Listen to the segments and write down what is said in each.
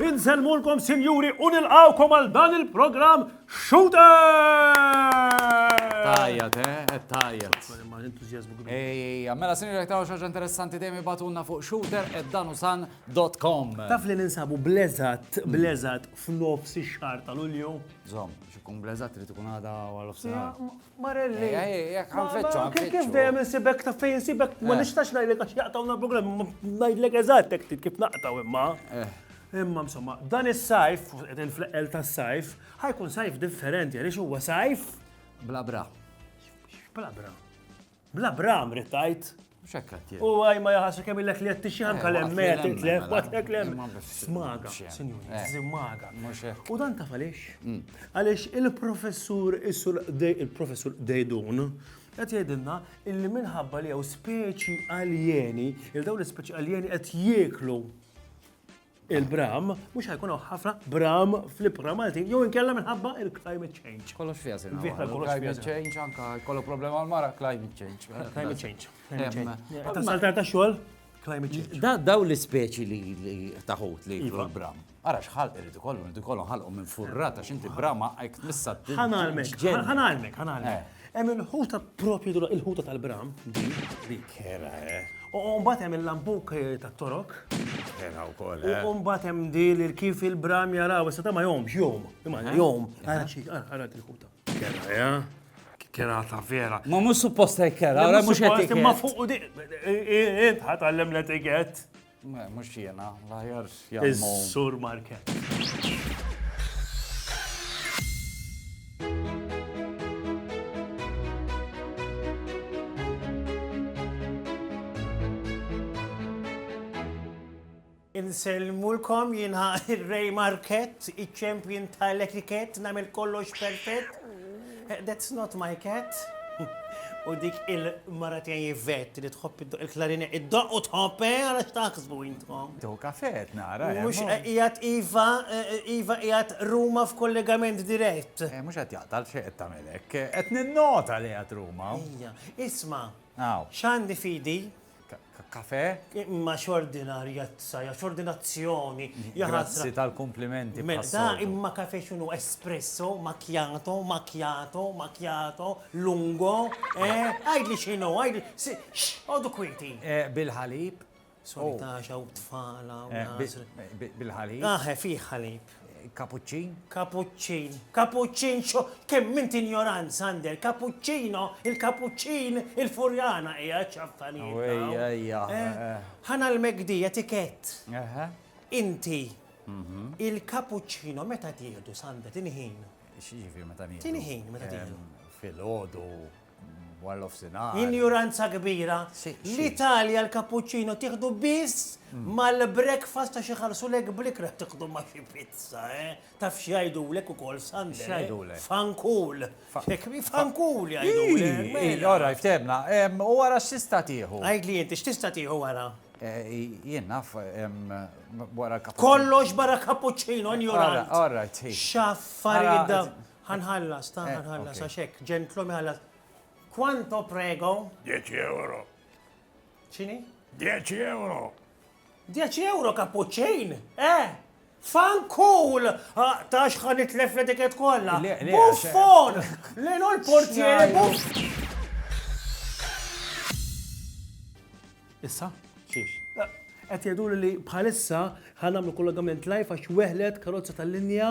Inselmulkom sinjuri u nilqawkom għal dan il-programm Shooter! Tajjat, eh, tajjat. Ej, ej, mela sinjuri jekk taraw xaġa interessanti dejjem ibatulna fuq Shooter, ed dan u san Dot com. Taf li ninsabu bl-eżatt, bl-eżatt f'nofs ix-xahar ta' Lulju? Żomm, biex ikun bl-eżatt trid ikun għada għal ofsinhar. Marelli. Jekk ħanfittxu ħanfittxu. Kif dejjem insibek taf fejn insibek ma nistax ngħidlek għax jaqtgħuna l-programm, imma ngħidlek eżatt hekk ftit kif naqtgħu imma. Imma insomma, dan is-sajf, qegħdin fl-eqqel tas-sajf, ħajkun sajf differenti għaliex huwa sajf. Bla bra. Bla bra. Bla bram rid tgħid. Mhux hekk qed jgħid. U għaj ma jaħassu kemm illek li qed tixi anke l-hemm qed titlef, waqtlek l-hemm. Smaga, sinjuri, smaga. U dan taf għaliex? Għaliex il-professur il-professur Dejdun qed jgħidilna illi minħabba li hawn speċi aljeni, il dawn l-ispeċi aljeni qed jieklu il-bram, mhux ħajkun hawn ħafna bram fl-ibħra Maltin, jew inkella minħabba il-climate change. Kollox fiha sena. Climate change anka jkollu problema għal mara climate change. Climate change. Ta' saltar ta' xogħol, climate change. Da daw l-ispeċi li taħut li jkunu iva. bram. Ara xħalq irridu kollu, irridu kollu ħalqu minn furrata x'inti brama għajk missa. Ħanalmek, ħanalmek, ħanalmek. Eh. Hemm il-ħuta propju dura, il-ħuta tal-bram, din, din. Kera, eh. U mbagħad hemm il-lambuk eh, tat-torok. Kera wkoll, eh. U mbagħad hemm di li kif il-bram jaraw, issa ta' ma jomx, jom, imma jom, ara xi, ara il-ħuta. Kera, eh. Kera ta' vera. Ma mhux supposta kera, ara mhux qed Ma fuq u di. Int ħatgħallem l-etikett. Mhux jiena, l-aħjar jagħmlu. Sur Market. Insellmulkom jiena Ray Market, iċ-champion tal-etiket, namel kollox perfett. That's not my cat! U dik il-mara tiegħi Yvette li tħobb iddoqq il-klarinett, iddoqq u tħobb, eh, ara x'taħsbu intkom! Tieħu kafè qed nara, eh! Mhux qiegħed iva, iva qiegħed Ruma f'kollegament dirett! Eh, mhux qed jaqta' għalfejn qed tagħmel hekk, qed ninnota li qiegħed Ruma! Ejja, isma'! Hawn. X'għandi f'idi? kafè. Imma x'ordinarja t-saja, x'ordinazzjoni, jaħasra. Grazzi tal-kumplimenti bħas-soltu. Imma kafè x'inhu espresso, macchiato, macchiato, macchiato, lungo, eh? Għidli x'inhu, għidli, x'għodu kwieti. Bil-ħalib. Solitax hawn tfal hawn. Bil-ħalib. Aħe, fih ħalib. Kapuċċin? Kapuċċin. Kapuċċin xo kemm int injoranz, Sander. Kapuċċino, il-kapuċċin, il-furjana hija ċaffanijiet. Oh, ejja, ejja. Eh, eh, eh. Ħana l-megdi, etikett. Inti, mhm. il-kapuċċino meta tieħdu, Sander, tinħin. X'jiġifieri meta nieħdu? Tinħin meta tieħdu. Fil-ħodu. Injuranza kbira. L-Italja l-cappuccino tieħdu biss mm. mal-breakfast ta' xi ħarsulek blikra tieħdu ma' xi pizza, eh? Taf x'jgħidulek ukoll Sunday. Eh? X'jgħidulek? Fankul. Fankul jgħidulek. Mela. Ora, ftebna. U wara x'tista' tieħu? Għid li inti x'tista' tieħu wara? Eh, jien naf wara cappuccino. Kollox barra cappuccino, injuranza. All right. X'affarijiet Ħa nħallas, ta' ħa nħallas, għax hekk, ġentlum iħallas. Quanto prego? 10 euro. X'inhi? 10 euro. 10 euro kapuċċin? Eh! Fankul! Ah, ta' xħan itlef l etiket kollha. Buffon! Lejn l-portier! Issa? Xiex? Eh, qed jgħidu li bħalissa ħanamlu kollegament live għax weħlet karozza tal-linja.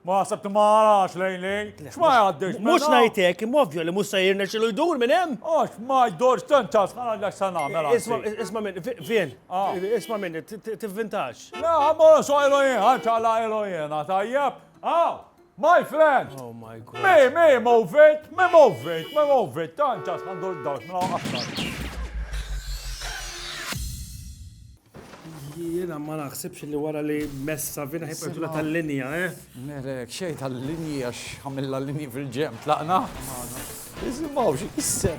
Ma ħsabt ma għarax lejn lejn. X'ma jgħaddix. Mhux mela? ngħid hekk, imma ovvju li mhux se jirnexxilu jdur minn hemm. Għax ma jdorx tant għax ħana dak se nagħmel. Isma' isma' minn vien. Ah. Isma' minni, tivvintax. La, ma sojlu jien, ħadd għala ilu jiena, tajjeb. Ah, my friend. Oh my god. Me, me, move it, me move it, me move it, tant għax ħandur dawx minn mela, aktar. Jiena ma naħsibx li wara li mess Savina ħajbqa' jtula tal-linja, eh? Nilek xejn tal-linji għax għamilna l-linji fil-ġenb tlaqna. Isimgħu x'isser.